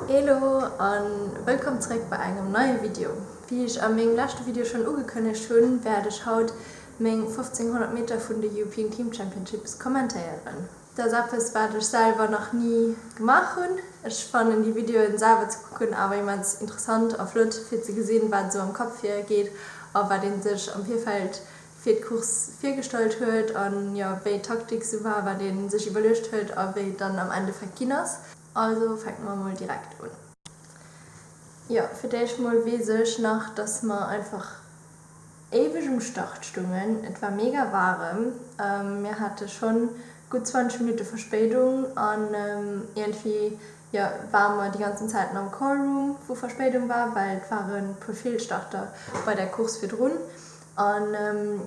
Elo an wëllkomm zréck bei engem neie Video. Wéi ech a mengem leschte Video schonn ugekënnegt hunn, wäert ech haut meng 1500 Meter vun de European Team Championships kommentéieren. Dat ass eppes wat ech selwer nach ni gemaach hunn. Ech fannen déi Videoen selwer ze kucken awer immens interessant a flott fir ze gesinn wat esou am Kapp vir geet a wat een sech am Virfeld fir d'Course virgestallt huet a jo, wéi d'Taktik sou war, wat ee sech iwwerluecht huet a wéi et dann am Endeffekt ginn ass. Also fänke mer emol direkt un. Jo, fir d'éischt emol weess ech nach, dass mer einfach éiweg um Start stungen. Et war mega waarem, mir hate schonn gutt 20 Minutte Verspéidung an iergendwéi, jo, ware mer déi ganzen Zäiten am Callroom, wou Verspéidung war, well et ware puer Feelstarter bei der Course virdrun. An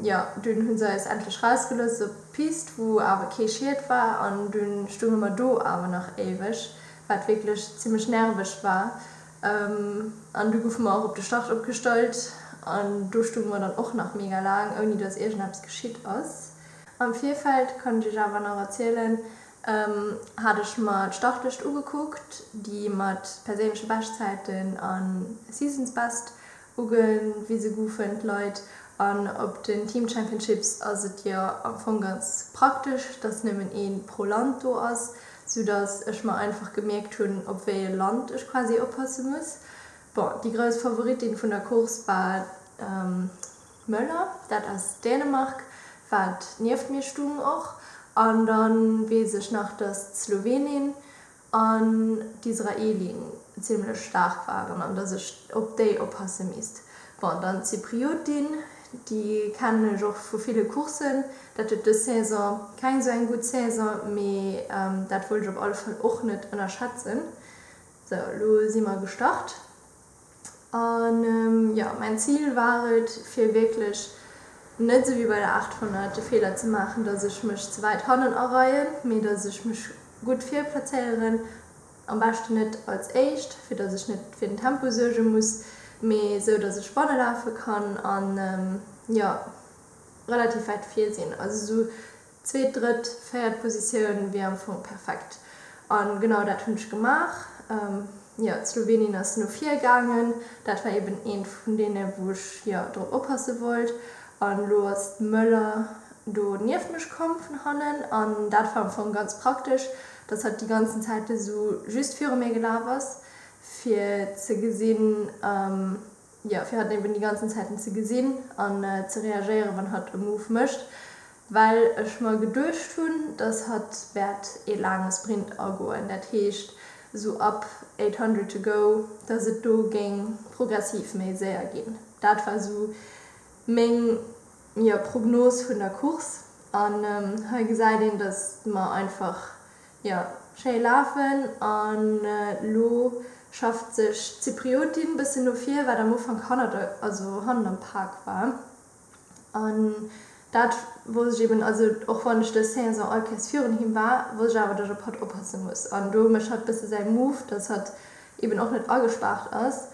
jo, dunn hu se eis endlech rausgelooss op d'Pist, wou awer kee Schied war. An dunn stounge mer do awer nach éiweg, wat wierklech zimmlech nerveg war. An du goufe mer och op de Start opgestallt, an do stounge mer dann och nach mega laang, ouni dass iergendeppes geschitt ass. Am Virfeld, kann ech iech awer nach erzielen, hat ech mer d'Startlëscht ugekuckt, déi mat perséinleche Beschtzäiten a Seasons Best, Ugewise goufen d'Leit an op den Team Championships ass et jo am Fong ganz praktesch, dass nëmmen ee pro Land do ass, sou dass ech mer einfach gemierkt hunn, op wéi e Land ech quasi oppasse muss. Bon, déi grouss Favoritin vun der Course war d'Möller, dat ass Dänemark, wat nieft mir stung. Och an dann weess ech nach, dass d'Slowenin an d'Israelien zimmlech staark waren an dass ech op déi oppasse misst. Bon, dann d'Zypriotin, déi kennen ech och vu ville Courssen. Dat huet dës Saison keng esou eng gutt Saison, mee dat wollt ech op alle Fall och net ënnerschätzen. Sou, elo si mer gestart. A jo, mäin Zil war et, fir wierklech net esou wéi bei der 800 de Feeler ze maachen, datt ech mech ze wäit hannen areien, mee datt ech mech gutt virplazéieren, am beschten net als Éischt, fir datt ech net fir den Tempo suerge muss, mee esou datt ech banne lafe kann an jo relativ wäit vir sinn. Also esou Zweet, drëtt, véiert Positioun wier am Fong perfekt. A genau dat hunn ech gemaach. Jo, d'Slowenien ass no vir gaangen. Dat war eben eent vun deene wou ech jo drop oppasse wollt. An elo ass d'Möller do nieft mech komm vun hannen. An dat war am Fong ganz praktesch, dass hatt déi ganzen Zäit esou just viru mir gelaf ass, fir ze gesinn, jo fir hatt eben déi ganzen Zäiten ze gesinn an ze reagéieren wann hatt e Move mécht, well ech mer geduecht hunn, dass hatt wäert ee laange Sprint agoen, dat heescht esou ab 800 to go, dass et do géing progressiv méi séier ginn. Dat war esou meng, jo, Prognos vun der Course an hei gesäit een, dass mer einfach Jo, schéi lafen an lo schafft sech d'Zypriotin bëssen no vir, wat am Ufank hannert, also hannen am Pak war. An dat wosst ech eben, also och wann ech dës Saison all Kéiers virun him war, wosst ech awer, datt ech op hatt oppasse muss. An do mécht hatt bësse säi Move, datt hatt eben och net agespaart ass.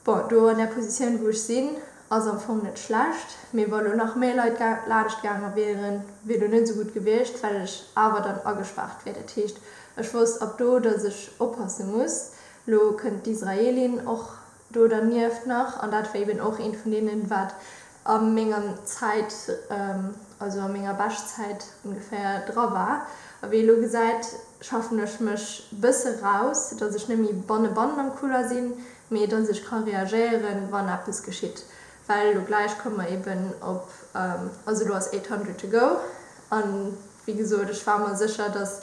Bon, do an där Positioun, wou ech sinn, ass am Fong net schlecht, mee wa lo nach méi Leit laanscht gaange wieren, wier lo net esou gutt gewiescht, well ech awer dann agespaart wier. Dat heescht, ech wosst ab do, dass ech oppasse muss. Lo kënnt d'Israelin och do dernieft nach, an dat war eeben och eent vun deenen, wat a menger Zäit, also a menger Beschtzäit ongeféier, dra war. A wéi ee lo gesäit, schaffen ech mech e bësse eraus, datt ech net méi banne bannen am Couloir sinn, mee datt ech ka reagéieren, wann eppes geschitt. Well lo gläich komme mer eben op, also lo ass 800 to go, a wéi gesot, ech war mer sécher, datt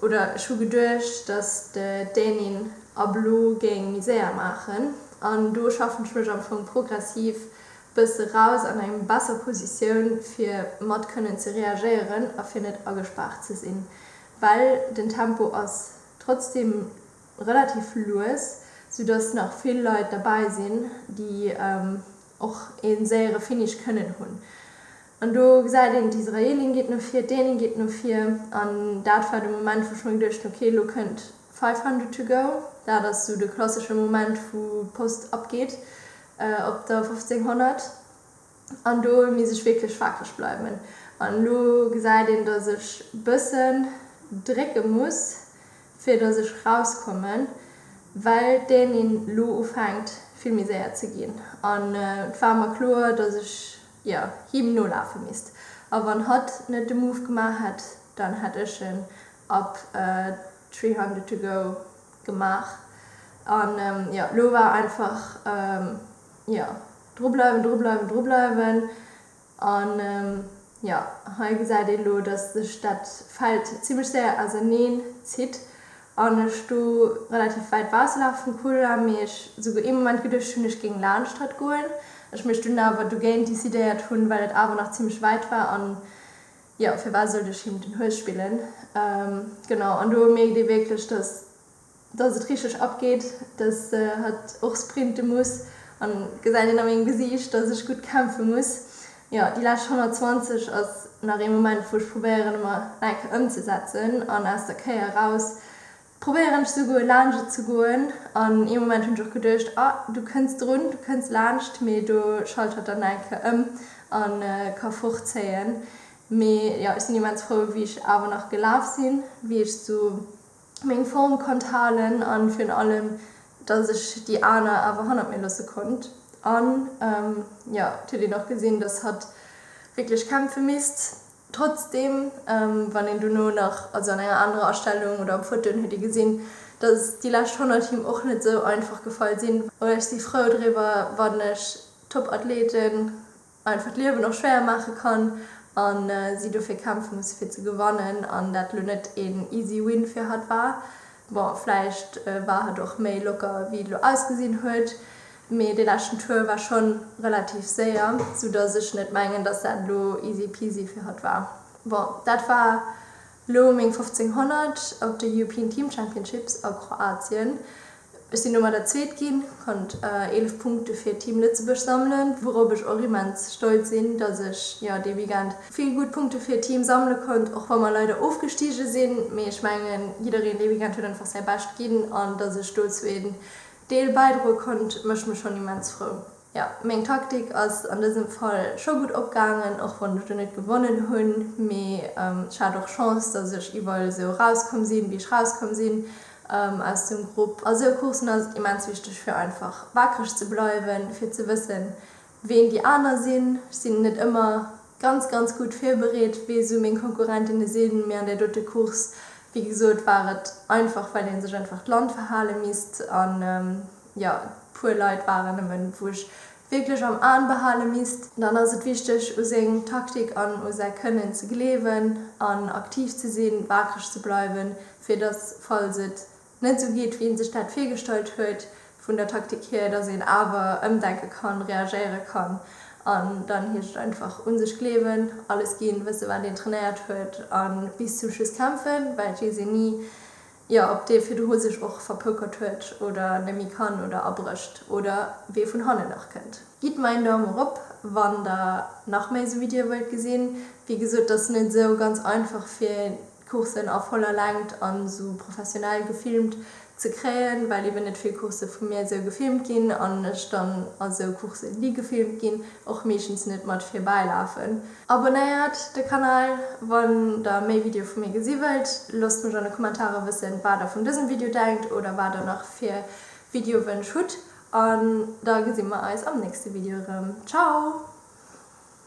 Oder ech hu geduecht, dass de Dänin ablo géing Misère maachen. An do schaffen ech mech am Fong progressiv bësse eraus an eng besser Positioun, fir mat kënnen ze reagéieren a fir net agespaart ze sinn. Well den Tempo ass trotzdem relativ lues, soudass nach vill Leit derbäi sinn, déi och ee séiere Finish kënnen hunn. An do gesäit een, d'Israelin geet no vir, d'Dänin geet no vir. An dat war de Moment, wou ech mir geduecht hunn, ok, elo kënnt Five Hundred To Go. Dat ass esou de klassesche Moment, wou d'Post abgeet op der 1500. An do misst ech wierklech waakreg bleiwen. An elo gesäit een, datt ech e bëssen drécke muss, fir datt ech erauskommen, well d'Dänin elo ufänkt vill méi séier ze ginn. An et war mer kloer, datt ech jo, him nolafe misst. A wann hatt net de Move gemaach hätt, dann hätt ech en ab three hundred to go gemaach. An jo, lo war einfach jo, dru bleiwen, dru bleiwen, dru bleiwen. An jo, hei gesäit een elo, dass sech dat Feld zimmlech séier auserneen zitt. an ech sto relativ wäit bausselaach vum Couloir, mee ech souguer ee Moment geduecht hunn, ech géing laanscht hatt goen, ech mech dunn awer dogéint decidéiert hunn, well et awer nach zimmlech wäit war, an jo, firwat sollt ech him den Hues spillen? Genau, an do mierkt ee wierklech, dass dass et richteg abgeet, dass se hatt och sprinte muss, an gesäit een a mengem Gesiicht, dass ech gutt kämpfe muss, Jo, déi lescht 120 ass nach ee Moment wou ech probéieren emmer eng Kéier ëmzesetzen an aus der Kéier eraus probéieren ech souguer laanscht et ze goen an ee Moment hunn ech och geduecht, ah du kënns drun, du kënns laanscht mee do schalt hatt dann eng Kéier ëm a ka fortzéien. Mee jo, ech sinn immens frou wéi ech awer nach gelaf sinn, wéi ech esou meng Form konnt halen an virun allem dass ech déi aner awer hannert mir loosse konnt an jo et huet een och gesinn dass hatt wierklech kämpfe misst trotzdem wann een dono nach also an enger anerer Astellung oder op Fotoen huet ee gesinn dass déi lescht 100 him och net esou einfach gefall sinn. Ech si frou driwwer wann ech Top-Athleten einfach d'Liewen och schwéier maache kann a si dofir kämpfe musse fir ze gewannen an dat elo net een easy win fir hatt war. Bon, vläicht war hatt och méi locker wéi et elo ausgesinn huet, mee dee leschten Tour war schonn relativ séier, sou datt ech net mengen, datt dat elo easy peasy fir hatt war. Bon, dat war Lo meng 1500 op de European Team Championships a Kroatien. Ech sinn domat der Zweet ginn, konnt 11 Punkte fir Team Lëtzebuerg sammelen, wourop ech och immens stolz sinn, dass ech jo dee Weekend vill gutt Punkte fir d'Team sammele konnt, och wa mer leider ofgestige sinn. Mee ech mengen, jiddereen dee Weekend huet einfach säi Bescht ginn an dass ech dozou een Deel bäidroe konnt, mécht mech schonn immens frou. Jo, meng Taktik ass an dësem Fall scho gutt opgaangen, och wann ech do net gewonnen hunn. Mee ech hat och Chance, dass ech iwwerall esou erauskomm sinn, wéi ech erauskomm sinn aus dem Grupp. A sou Courssen ass et immens wichteg, fir einfach waakreg ze bleiwen, fir ze wëssen, ween déi aner sinn. Ech sinn net ëmmer ganz, ganz gutt virbereet, wie esou meng Konkurrentinne sinn. Mee an där dote Course, wéi gesot, war et einfach, well ee sech einfach d'Land verhale misst. jo, puer Leit waren nëmmen, wou ech wierklech am An behale misst. Dann ass et wichteg, u seng Taktik an u säi Kënnen ze gleewen an aktiv ze sinn, waakreg ze bleiwen, fir dass, falls et net esou geet, wéi ee sech dat virgestallt huet vun der Taktik hier, dass een awer ëmdenke kann, reagéiere kann. An dann heescht et einfach, un sech gleewen, alles ginn, wësse wat een trainéiert huet a bis zum Schluss kämpfen, well et weess een ni, Jo, ob dee virdru sech och verpoukert huet oder nemmi kann oder abrécht oder wee vun hannen nach kënnt. Gitt mer een Daumen rop wann der nach méi esou Videoe wëllt gesinn. Wéi gesot, et ass net esou ganz einfach fir d'Coursen a voller Längt an esou professionell gefilmt ze kréien, well eben net vill Course vu mir esou gefilmt ginn an ech dann a sou Coursen déi gefilmt ginn och meeschtens net mat virbäi lafen. Abonnéiert de Kanal wann der méi Video vu mir gesi wëllt. Loosst mech an de Kommentare wëssen wat der vun dësem Video denkt oder wat der nach fir Videowënsch hutt an da gesi mer eis am nächste Video erëm. Ciao!